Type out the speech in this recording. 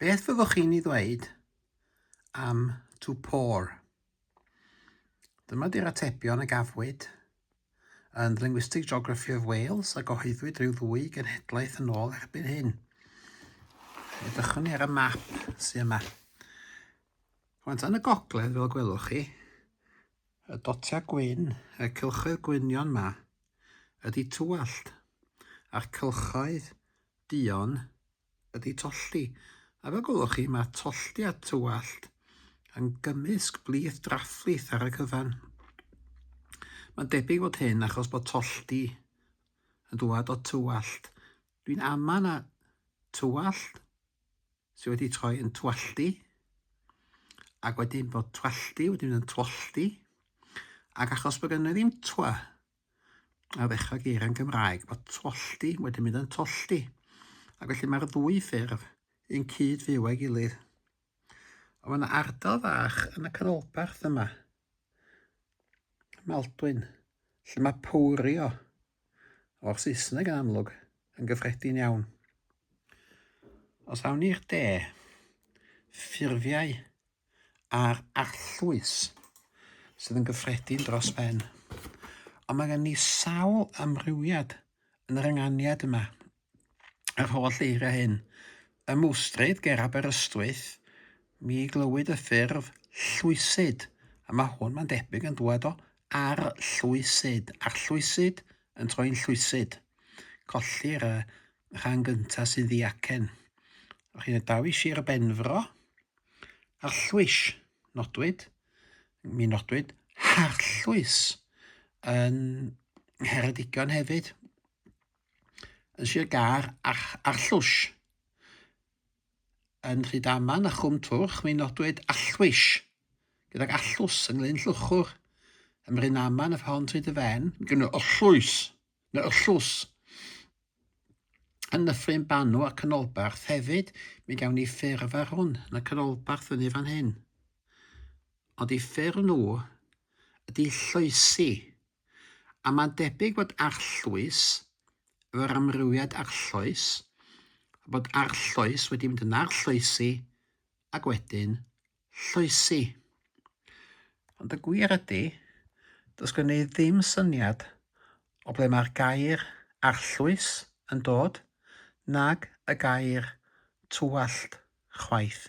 Beth fyddwch chi'n ei ddweud am to pour? Dyma di'r atebion y gafwyd yn The Linguistic Geography of Wales a gyhoeddwyd rhyw ddwy genhedlaeth yn ôl erbyn hyn. Edrychwn ni ar y map sy'n yma. Rwan, yn y gogledd, fel gwelwch chi, y dotiau gwyn, y cylchoedd gwynion yma, ydy tywallt, a'r cylchoedd Duon ydy tolli, a fel gwelwch chi mae tolliad tywallt yn gymysg blith draflith ar y cyfan. Mae'n debyg fod hyn achos bod tolldi yn dŵad o tywallt. Dwi'n ama na tywallt sydd wedi troi yn twalldi ac wedyn bod twalldi wedi mynd yn twolldi ac achos bod gen i ddim twa a ddechrau geiriau'n Gymraeg, mae tollti wedi mynd yn tollti. Ac felly mae'r ddwy ffurf yn cyd fyw â'i gilydd. Ond mae yna ardal fach yn y canolbarth yma, Maldwyn, lle mae powrio o'r Saesneg yn amlwg yn gyffredin iawn. Os awn ni'r de, ffurfiau a'r arllwys sydd yn gyffredin dros ben. Ond mae gen i sawl amrywiad yn yr ynganiad yma. Yr holl eiriau hyn. Y mwstryd ger Aberystwyth, mi glywyd y ffurf llwysid, a mae hwn, mae'n debyg, yn dŵad o arllwysid, arllwysid yn troi'n llwysid. Colli'r uh, rhan gyntaf sy'n ddiacen. O'ch chi'n y daw i Sir Benfro, Arllwys, nodwyd, mi nodwyd harllwys yn Ngheredigion hefyd, yn Sir Gâr, ar, arllwys yn Rhydaman a Chwm Twrch, mi nodwyd arllwys gydag arllwys yng Nglyn Llwchwr, ym Mrynaman, y Ffon Tryd y Fen, gyda arllwys Neu'r Llws, yn Nyffryn Banw a Canolbarth. Hefyd, mi gawn ni ffurf ar hwn, yn y Canolbarth fyny fan hyn. Ond i ffurf nhw ydy Lloesi, a mae'n debyg bod Arllwys, efo'r amrywiad Arlloes, bod Arlloes wedi mynd yn Arlloesi, ac wedyn Llwysi. Ond y gwir ydy, does gen i ddim syniad o ble mae'r gair 'arllwys' yn dod, nag y gair 'tywallt' chwaith.